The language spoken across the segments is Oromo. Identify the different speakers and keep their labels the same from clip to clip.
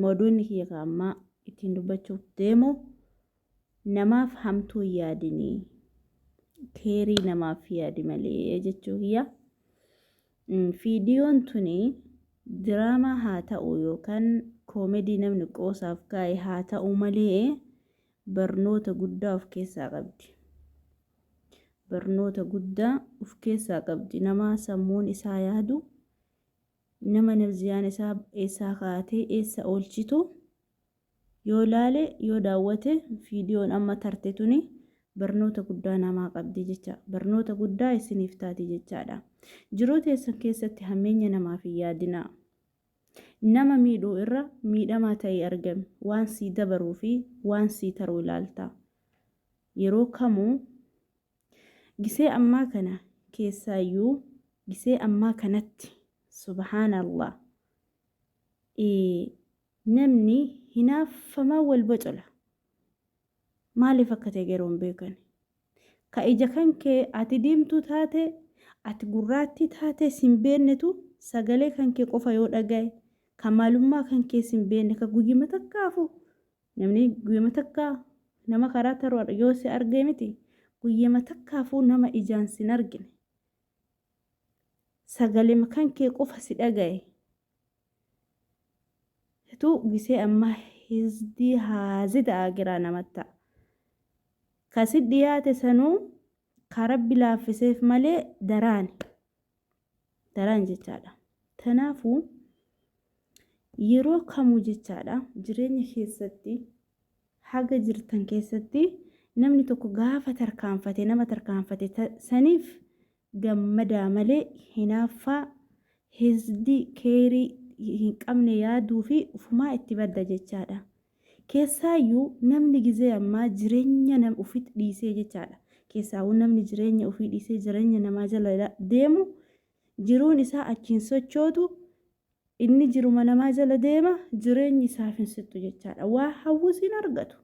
Speaker 1: Mooduunni kiyya ka ammaa ittiin dubbachuuf deemu namaaf hamtuu hin yaadini. Keerii namaaf yaadi malee jechuu kiyya. Fiidiyoon tuni diraamaa haa ta'u yookaan koomedii namni qoosaaf kaa'e haa ta'u malee barnoota guddaa of keessaa qabdi. Barnoota guddaa of keessaa qabdi. Namaa sammuun isaa yaadu nama nafziyaan isaa eessaa kaatee eessa oolchitu yoo laale yoo daawwate viidiyoon amma tarte tuni barnoota guddaa namaa qabdi jecha barnoota guddaa isiniif taati jechaadha jiruu teessan keessatti hammeenya namaaf hin yaadinaa nama miidhuu irra miidhamaa ta'ee argame waan sii dabaruu fi waan sii taruu ilaalta yeroo kamuu Gisee ammaa kana keessaayyuu gisee ammaa kanatti subhaanallah namni hinaaffamaa wal bocola maaliif akka ta'e garuu hin beekan ka ija kan kee ati diimtuu taate ati gurraattii taate sin beennetu sagalee kan kee qofa yoo dhagaye ka maalummaa kan kee sin beenne ka guyyuma takkaafuu Namni guyyama takka nama karaa taruu yoo si argee miti guyyama takkaafuu nama ijaan sin argine. Sagalema kan kee qofa si dhagaye. Situ gisee ammaa hizdii haazida aagiraa namatta. Kasi dhiyaate sanuu ka rabbi laaffiseef malee daraani. daraan jechaadha. Kanaafuu yeroo kamuu jechaadha jireenya keessatti haga jirtan keessatti namni tokko gaafa tarkaanfate nama tarkaanfate ta- saniif gammadaa malee hinaaffaa hisdii keerii hin qabne yaaduu fi ufumaa itti badda jechaadha. Keessaayyuu namni gizee ammaa jireenya nam ufit dhiisee jechaadha. Keessaawuu namni jireenya ufii dhiisee jireenya namaa jala deemu jiruun isaa achiin sochootu inni jiruma namaa jala deema jireenyi isaaf hin sittu jechaadha. Waa hawwus hin argatu.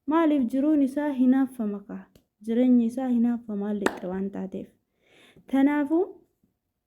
Speaker 1: Maaliif jiruun isaa hinaaffama kaa jireenyi isaa hinaaffama lixxe waan taateef. Tanaafuu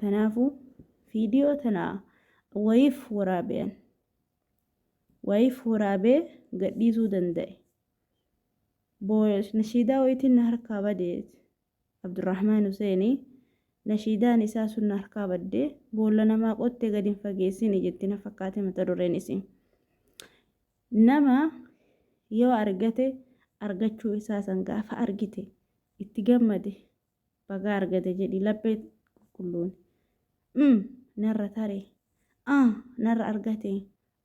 Speaker 1: Tanaafu video tana wayif waraabe an. Wayif waraabe gadhiisuu danda'e. Booda nashiidaa wayitiin na harkaa bade Abdurrahmaan Huseeni nashiidaan isaa sun na harkaa badde boolla namaa qotte gad hin fageessini jetti na fakkaate mata dureen isii. Nama yoo argate argachuu isaa san gaafa argite itti gammade bagaa argate jedhi laphee qulqulluun mm narra tare ah narra argate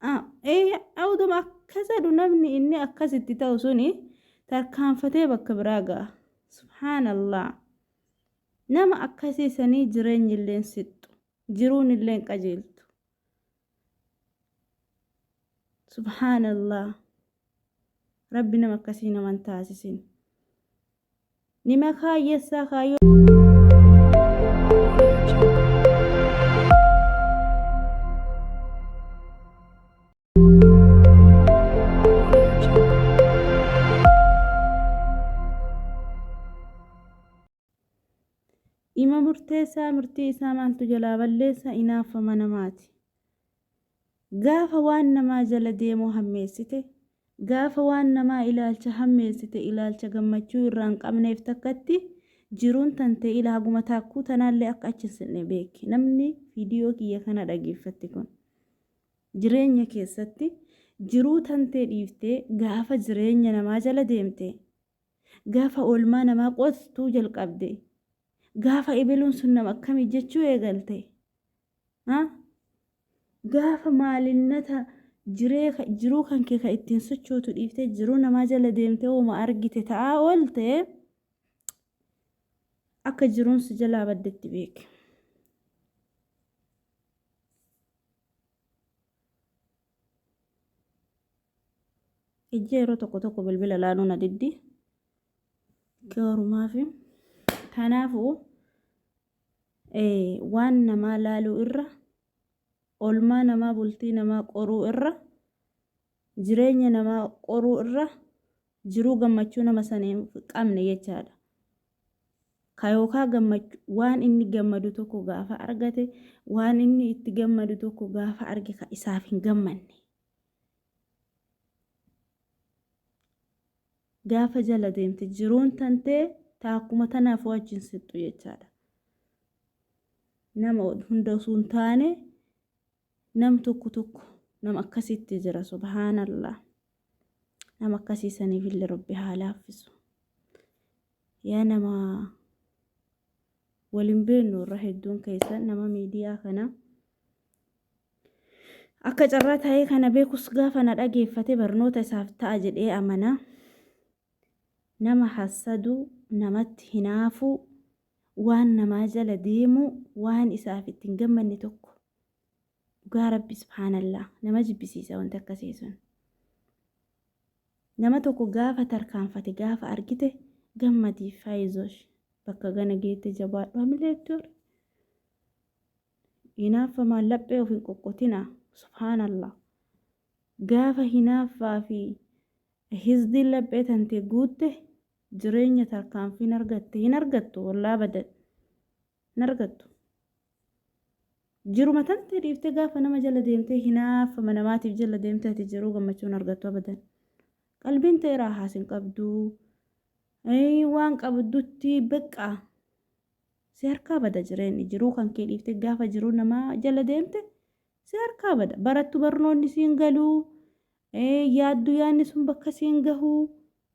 Speaker 1: ah ee awduma akkas jedhu namni inni akkas itti ta'u suni tarkaanfatee bakka biraa ga'a subhaanallah nama akkasii sanii jireenyi illeen sixxu jiruun illeen qajeeltu subhaanallah rabbi nama akkasii naman taasisin Nima kaayyessaa kaayyoo. Dhima murteessaa murtii isaa maaltu jalaa balleessa inaaffama namaati. Gaafa waan namaa jala deemuu hammeessite, gaafa waan namaa ilaalcha hammeessite ilaalcha gammachuu irraa hin qabneef takkatti jiruun tante ila haguma taakkuu tanaallee akka achi hin sinne beeki. Namni viidiyoo kiyya kana dhageeffatti kun jireenya keessatti jiruu tantee dhiiftee gaafa jireenya namaa jala deemte gaafa oolmaa namaa qottuu jalqabde gaafa ibiluun sun nama akkamii jechuu eegalte Ha? Gaafa maalinnata jiree ka- jiruu kan kee ka ittiin sochootu dhiiftee jiruu namaa jala deemtee hooma argite ta'aa oolte akka jiruun si jalaa baddetti beeki. Ijji yeroo tokko tokko bilbila laaluu na diddi. Gaarumaafi. Kanaafuu waan namaa laaluu irra olmaa namaa bultii namaa qoruu irra jireenya namaa qoruu irra jiruu gammachuu nama sanii qabne jechaadha. Ka yookaa gammachu waan inni gammadu tokko gaafa argate waan inni itti gammadu tokko gaafa arge ka isaaf hin gammanne. gaafa jala deemte jiruun tantee taakkuma tanaaf wajjin sixxu jechaadha. Nama hunda osoo hin taane nam tokko tokko nama akkasitti jira subhaanallah. Nama akkasii saniif illee rabbi haa laaffisu. Yaa nama waliin beeknu irra hedduun keessan nama miidiyaa kana Akka carraa taa'ee kana beekus gaafa na dhageeffate barnoota isaaf ta'a jedhee amana. Nama hassadu, namatti hinaafu, waan namaa jala deemu, waan isaaf itti hin gammanne tokko. Dhugaa Rabbi subhaanallaa nama jibbisiisa wanti akkasii sun. Nama tokko gaafa tarkaanfate gaafa argite gammadiif faayizosh bakka gana geette jabaadhu hamilee itti hori. Hinaaffamaan laphee of hin qoqqotinaa. Subhaanallah. Gaafa hinaaffaa fi hisdiin laphee tantee guutte jireenya tarkaanfiin argatte hin argattu wallaa abadan. Hin argattu. Jiruma tantee dhiiftee gaafa nama jala deemtee hinaaffama namaatiif jala deemtee ati jiruu gammachuu hin argattu abadan. Qalbiin ta'e raahaas hin qabdu. Ee, Waan qabdutti beqqaa. Si harkaa bada jireenyi jiruu kan kee dhiifte gaafa jiruu nama jala deemte si harkaa bada barattu barnoonni siin galuu yaaddu yaanni sun bakka siin gahuu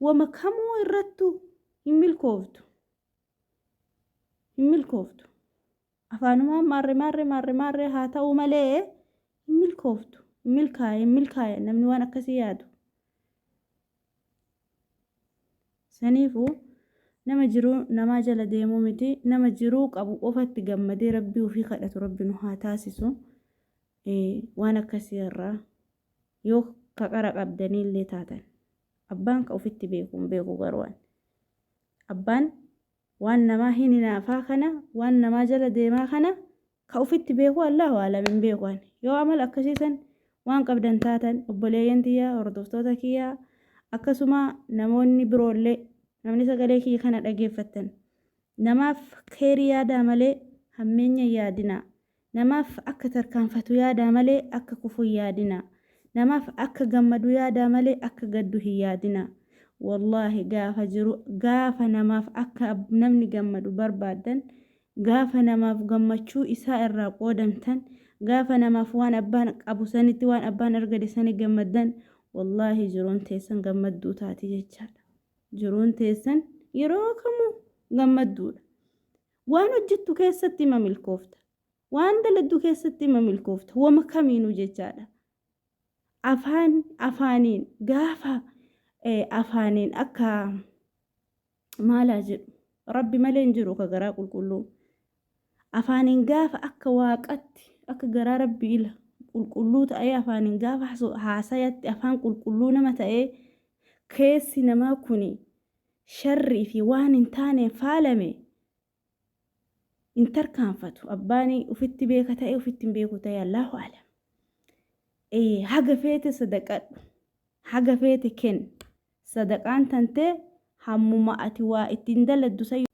Speaker 1: wama kamuu irrattu hin milkooftu hin milkooftu afaanumaan maarre maarre maarre maarre haa ta'uu malee hin milkooftu hin milkaa'e hin milkaa'e namni waan akkasii yaadu Saniifuu nama jiruu namaa jala deemuu miti nama jiruu qabu qofatti gammadee rabbii ofii kadhatu rabbi nu haa taasisu waan akkasii irraa yoo ka qara qabdanii illee taatan abbaan ka ofitti beeku hin beeku garuwaan abbaan waan namaa hin hinaafaa kana waan namaa jala deemaa kana Ka ufitti beeku Allaahu a'lam hin beeku ani. Yoo amala akkasii san waan qabdan taatan obboleeyyan tiyya hordoftoota kiyya akkasuma namoonni biroollee namni sagalee kiyya kana dhageeffattan namaaf kheyrii yaadaa malee hammeenya hin yaadinaa. Namaaf akka tarkaanfatu yaadaa malee akka kufu hin yaadinaa. Namaaf akka gammadu yaadaa malee akka gaddu hin yaadinaa. Wallaahi gaafa jiru gaafa namaaf akka namni gammadu barbaaddan Gaafa namaaf gammachuu isaa irraa qoodamtan, gaafa namaaf waan abbaan qabu sanitti, waan abbaan argate sanitti gammaddan, wallaahi jiruun teessan gammadduu taati jechaadha. Jiruun teessan yeroo kamuu gammadduudha. Waan hojjettu keessatti ima milkoofta. Waan daladdu keessatti ima milkoofta. Wama kamiinuu jechaadha. Afaan afaaniin gaafa eh, afaaniin akka maal haa jedhu rabbi malee hin jiru ka garaa qulqulluu afaaniin gaafa akka waaqatti akka garaa rabbi ila qulqulluu ta'ee afaaniin gaafa haasayatti afaan qulqulluu nama ta'ee keessi namaa kuni sharrii fi waan hin taaneen faalame hin tarkaanfatu abbaan ufitti beeka ta'e ufitti hin beeku ta'e allaahu alam Ee, haga feete sadaqadhu haga feete kenn sadaqaan tantee hammuma ati waa ittiin daladdu san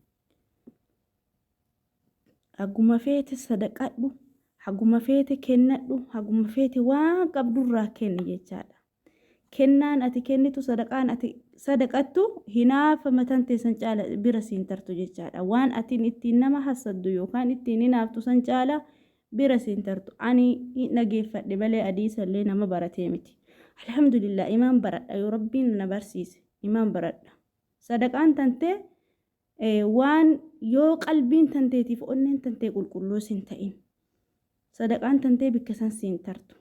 Speaker 1: haguma feete sadaqadhu haguma feete kennadhu haguma feete waan qabdurraa kenni jechaadha Kennaan ati kennitu, sadaqaan ati sadaqattu hinaafa mataan tee san caala bira siin tartu jechaadha. Waan atiin ittiin nama hassaddu yookaan ittiin hinaaftu san caala bira siin tartu. Ani hin dhageeffadhe malee hadiisa illee nama baratee miti. Alhamdulillah imaan baradha yoo Rabbiin na barsiise imaan baradha. Sadaqaan tantee Waan yoo qalbiin tanteetiif onneen tantee qulqulluu sin ta'in sadaqaan tantee bikka san siin tartu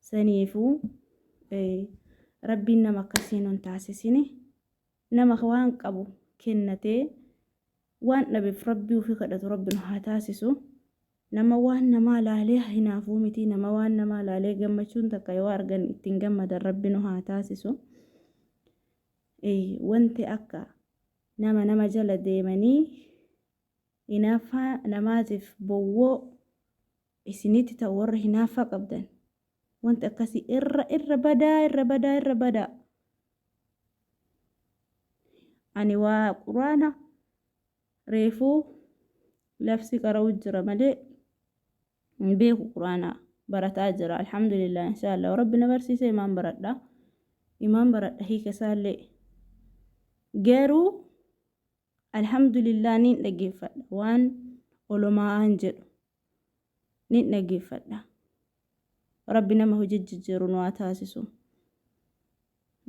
Speaker 1: saniifuu rabbiin nama akkasii nun taasisini nama waan qabu kennatee waan dhabeef rabbii ofii kadhatu rabbi nu haa taasisu nama waan namaa laalee hinaafuu miti nama waan namaa laalee gammachuun takka yoo argan ittiin gammadan rabbi nu haa taasisu. Eeyy wanti akka nama nama jala deemanii hinaaffaa namaatiif bowwoo isinitti ta'u warra hinaaffaa qabdan wanti akkasii irra irra badaa irra badaa irra badaa ani waa quraana reefuu labsii qara'uu jira malee hin beeku quraana barataa jira alhamdulillah inshaalla yoo rabbi na barsiise imaan baradha imaan baradha hiika isaallee garuu alhamdulillah niin dhageeffadha waan olomaa'aan jedhu niin dhageeffadha rabbi nama hojii jijjiiru nu haa taasisu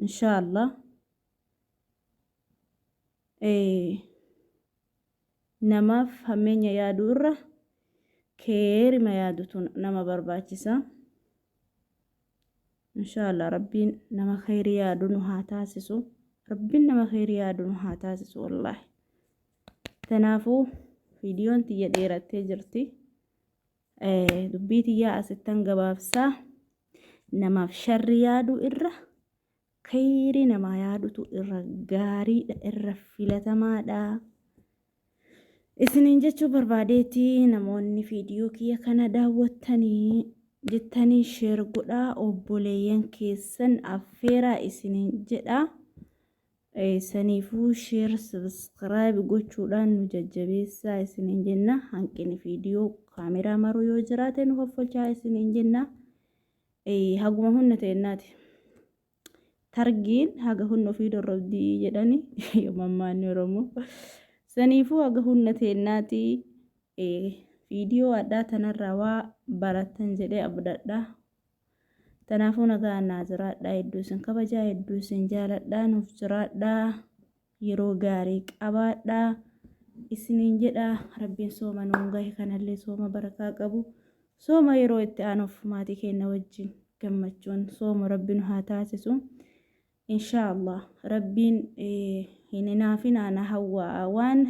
Speaker 1: inshaalla ee Namaaf hammeenya yaaduu irra keeyrima yaadutu nama barbaachisa. Inshaallah Rabbiin nama keeyri yaadu nu haa taasisu. Rabbiin nama keeyri yaadu nu haa taasisu wallaahi. Tanaafuu viidiyoon tiyya dheerattee jirti. Dubbii tiyyaa asittan gabaabsaa. Namaaf sharri yaaduu irra Kheyrii namaa yaadutu irra gaariidha, irra filatamaadha. Isiniin jechuu barbaadeeti namoonni viidiyoo kiyya kana daawwattanii jettanii sheer godhaa obboleeyyan keessan affeeraa isiniin jedha. Saniifuu sheer sabiskiraayib gochuudhaan nu jajjabeessaa isiniin jenna. Hanqini viidiyoo kaameraa maruu yoo jiraate nu hoffolchaa isiniin jenna. haguma hunna teennaati. Targiin haga hunna ofii dorrobdii jedhani mammaanni Oromoo. Saniifuu haga hunna teennaati viidiyoo addaa tanarraa waa barattan jedhee abdadha. Tanaafuu nagaa naa jiraadhaa hedduu isin kabajaa hedduu isin jaaladhaa nuuf jiraadhaa. yeroo gaarii qabaadhaa isiniin jedha rabbiin sooma nuun gahe kanallee sooma barakaa qabu sooma yeroo itti aanuuf maatii keenna wajjin gammachuun sooma rabbi nu haa taasisu inshaallah rabbiin hin hinaafinaa na hawwaa waan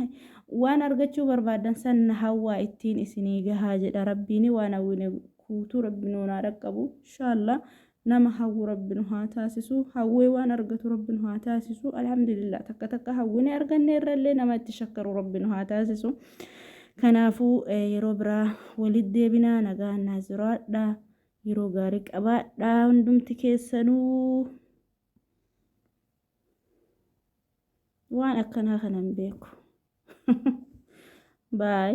Speaker 1: waan argachuu barbaadan san na hawwaa ittiin isinii gahaa jedha rabbiin waan hawwine guutuu rabbi nuun haa dhaqqabu inshaallah nama hawwu rabbi nu haa taasisu hawwee waan argatu rabbi nu haa taasisu alhamdulillah takka takka hawwine arganne irrallee nama itti shakkaru rabbi nu haa taasisu kanaafuu eh, yeroo biraa walitti deebinaa nagaan naa jiraadha yeroo gaarii qabaadha hundumti keessanuu waan akkanaa kana hin beeku baay